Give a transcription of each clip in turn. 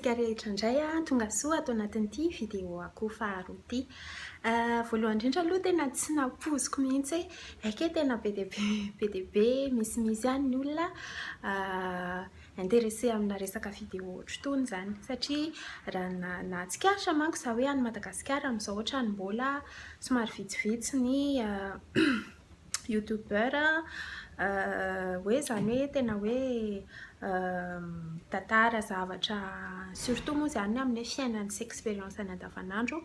antsika rehetra indray a tonga soa ato anatin'ity vidéo ako faharoa ity euh, voalohany indrindra aloha tena tsy nampoziko mihitsy hoe eke tena be dia be be dia be misimisy ihany ny olona euh, Intéressé amina resaka vidéo ohatr'itony izany satria raha nahatsikaritra manko za hoe any Madagasikara amin'izao ohatrany mbola somary vitsivitsy ny youtubeur hoe izany hoe tena hoe mitantara zavatra surtout moa izany ny amin'ny hoe fiainany sy expérience-ny andavanandro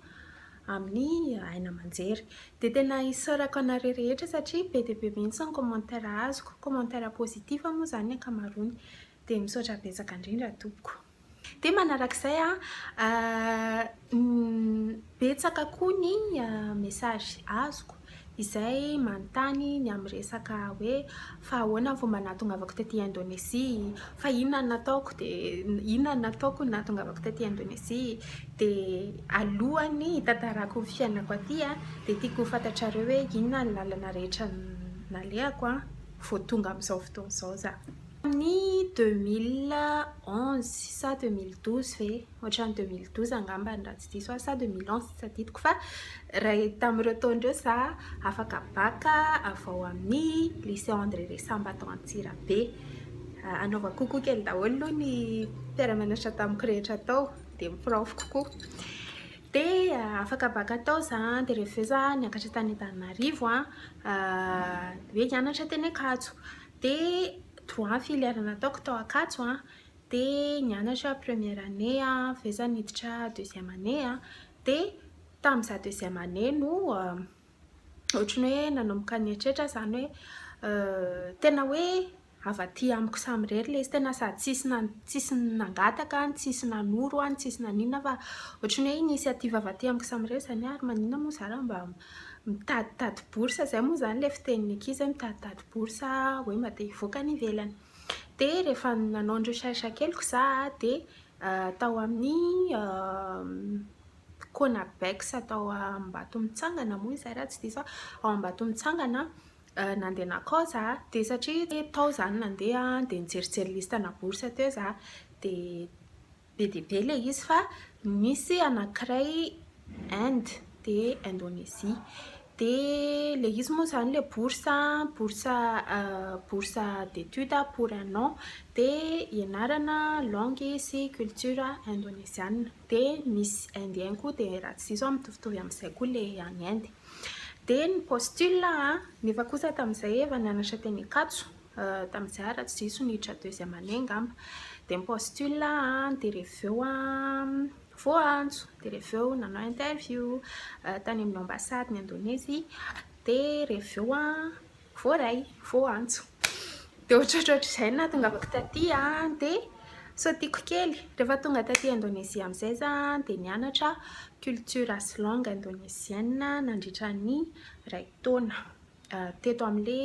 amin'ny aina aman-jery. Dia tena isaorako anareo rehetra satria be dia be mihitsy ny commentaire azoko, commentaire positif moa izany ny ankamaroany. Dia misaotra betsaka indrindra tompoko. Dia manarak'izay an, betsaka koa ny message azoko izay manontany ny amin'ny resaka hoe fa ahoana ny fomba nahatongavako taty Indonesia, fa inona no nataoko dia inona no nataoko ny nahatongavako taty Indonesia, dia alohan'ny hitantarako ny fiainako aty dia tiako ho fantatrareo hoe inona ny lalana rehetra nalehako vao tonga amin'izao fotoana izao za. Tamin'ny deux mille onze sa deux mille douze ve? ohatran'ny 2012 angambany raha tsy diso aho sa 2011 tsy tadidiko fa ray tamin'ireo taona ireo za afaka bac avy ao amin'ny lycée André Resamba tao Antsirabe anaovako kokoa kely daholo aloha ny mpiara-mianatra tamiko rehetra tao dia ny prof kokoa dia ah, afaka baka tao za dia rehefa avy eo za niakatra tany Antananarivo a ah, hoe hianatra teny Ankatso dia trois filière nataoko tao Ankatso a de nianatra première année a, avy eo za niditra deuxième année a, de tam za deuxième année no ohatry ny hoe nanomboka nieritreritra zany hoe tena hoe avy aty amiko samy irery le izy, tena sady tsisy tsisy nangataka, tsisy nanoro aho, tsisy naninona fa ohatry ny hoe initiative avy aty amiko samy irery zany hoe ary maninona moa za raha mba mitaditady bourse, zay moa zany le fitenin'ny ankizy hoe mitaditady bourse hoe mba te hivoaka any ivelany. Dia rehefa nanao ny recherche keliko za dia tao amin'ny Conabex tao Ambatomitsangana moa izay raha tsy diso aho, ao Ambatomitsangana nandeha nakao za dia satria tao za no nandeha dia nijerijery liste ana bourse teo za dia be dia be ilay izy fa misy anankiray Inde dia Indonesie dia ilay izy moa izany ilay bourse bourse bourse d'étude pour un an dia ianarana langue sy culture indonesiana dia misy indien koa dia raha tsy diso aho mitovitovy amin'izay koa ilay any Inde dia ny postule nefa kosa tamin'izay efa nianatra teny Ankatso Tamin'izay ary raha tsy diso ny tra deuxième année angamba dia mi-postule an, dia reveo an voaantso, dia reveo nanao interview tany amin'ny ambassade ny Indonesie, dia reveo an voaray, voaantso. Dia ohatrohatr'izay no nahatongavako taty an, dia sao tiako kely. Rehefa tonga taty Indonesie amin'izay za dia nianatra culture sy langue indonesienne nandritra ny iray taona. teto amle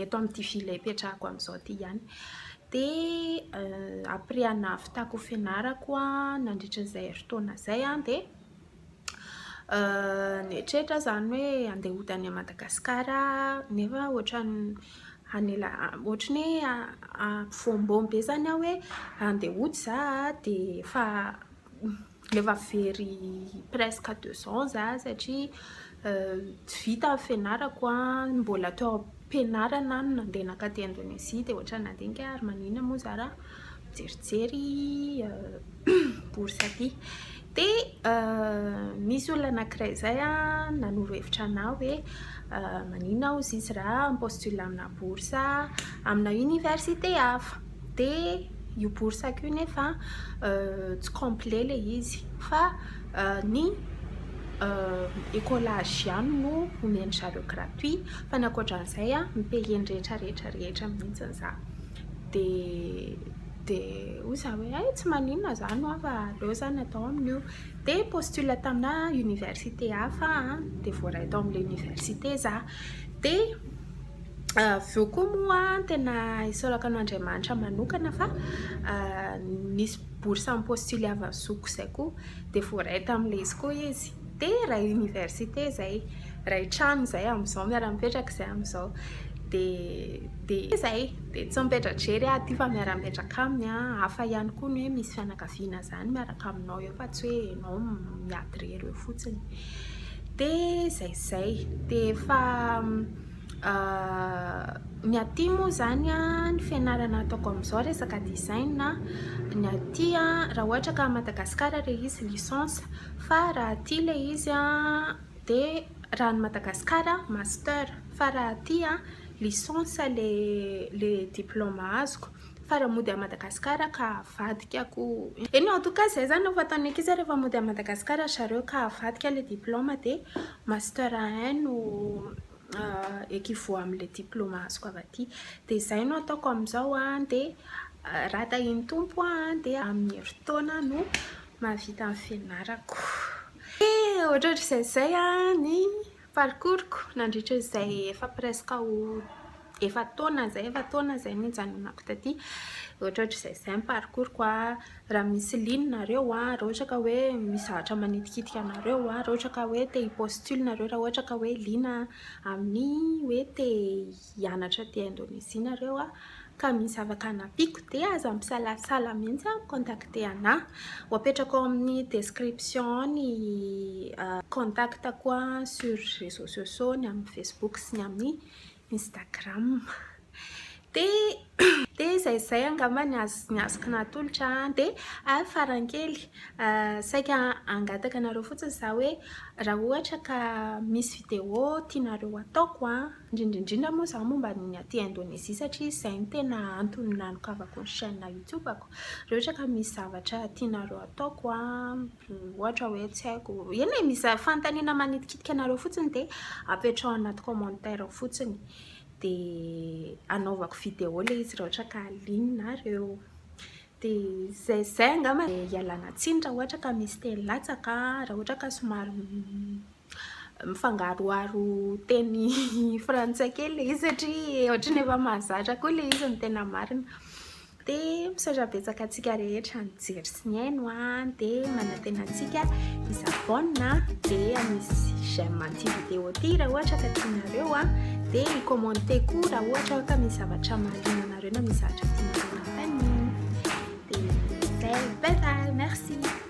eto amty ville ipetrahako amzao ty ihany de après nahavitako fianarako nandritra zay heritaona zay de nieritreritra aho zany hoe ande hody any Madagascar aho nefa otrany hanela otrany hoe ampivombom be zany aho hoe ande hody za de efa Efa very presque deux ans za satria tsy vita ny fianarako an, mbola teo am-pianarana aho no nandeha nankatỳ Indonezia dia ohatran'ny nandinika aho ary maninona moa za raha mijerijery bourse atỳ. Dia nisy olona anankiray izay nanoro hevitra anà hoe maninona hozy izy raha mi-postuler aminà bourse. amina université hafa dia io boursako io nefa tsy complet ilay izy fa ny écolage ihany no omen-dry zareo gratuit fa ny ankoatran'izay a mi payer ny rehetra rehetra rehetra mihitsy za dia dia hoy za hoe hay tsy maninona izany hoa fa aleo izany atao amin'io dia postule tamina université hafa dia voaray tao amin'ilay université za dia Avy eo koa moa tena isaorako an'Andriamanitra manokana fa nisy bourse en postule avy amin'ny zokiko izay koa dia voaray tamin'ilay izy koa izy dia iray université izay iray trano izay amin'izao miara-mipetraka izay amin'izao dia dia izay dia tsy mipetra-drery aho aty fa miara-mipetraka aminy an hafa ihany koa ny hoe misy fianakaviana izany miaraka aminao eo fa tsy hoe ianao miady irery eo fotsiny dia izay izay dia efa ny aty moa izany an ny fianarana ataoko amin'izao resaka design ny aty an raha ohatra ka Madagasikara ilay izy licence fa raha aty ilay izy an dia raha any Madagasikara master fa raha aty an licence ilay ilay diploma azoko fa raha mody any Madagasikara ka avadikako eny en tout cas izay izany no fataon'ny ankizy rehefa mody any Madagasikara ry zareo ka avadika ilay diploma dia Master un no equivaut amin'ilay diploma azoko avy aty. Dia izay no ataoko amin'izao an, dia raha tahian'ny Tompo an, dia amin'ny herintaona no mahavita ny fianarako. Dia ohatrohatr'izay izay an ny parcours-ko nandritra izay efa presque ho efa taona zay efa taona zay no nijanonako taty ohatrohatry zay zay ny parcours ko a raha misy liana nareo a raha ohatra ka hoe misy zavatra manitikitika anareo a raha ohatra ka hoe te hi postule nareo raha ohatra ka hoe liana amin'ny hoe te hianatra aty Indonesie nareo a ka misy afaka hanampiako de aza misalasala mihitsy a mi-contacte anah ho apetrako ao amin'ny description ao ny contactako sur reseaux sociaux ny amin'ny facebook sy ny amin'ny Instagram dia izay izay angamba ny azoko natolotra dia ary farany kely saika hangataka anareo fotsiny za hoe raha ohatra ka misy vidéo tianareo ataoko indrindra indrindra moa zany momba ny aty Indonesie satria izay no tena antony nanokafako ny chaîne youtube-ko raha ohatra ka misy zavatra tianareo ataoko Ohatra hoe tsy haiko, eny e, misy fanontaniana manitikitika anareo fotsiny dia apetraho anaty commentaire fotsiny dia anaovako vidéo ilay izy raha ohatra ka liana nareo. Dia izay izay angamba e. Ialana tsiny raha ohatra ka misy teny latsaka, raha ohatra ka somary mifangaroharo teny frantsay kely le izy satria ohatry ny efa mahazatra koa le izy ny tena marina de misaotra betsaka antsika rehetra nijery sy nihaino a de manantena antsika isabona de misy j'aime anty vidéo ty raha ohatra ka tianareo a de ny commenté koa raha ohatra ka misy zavatra mahaliana anareo na misy zavatra tianareo nantaniana de bye bye merci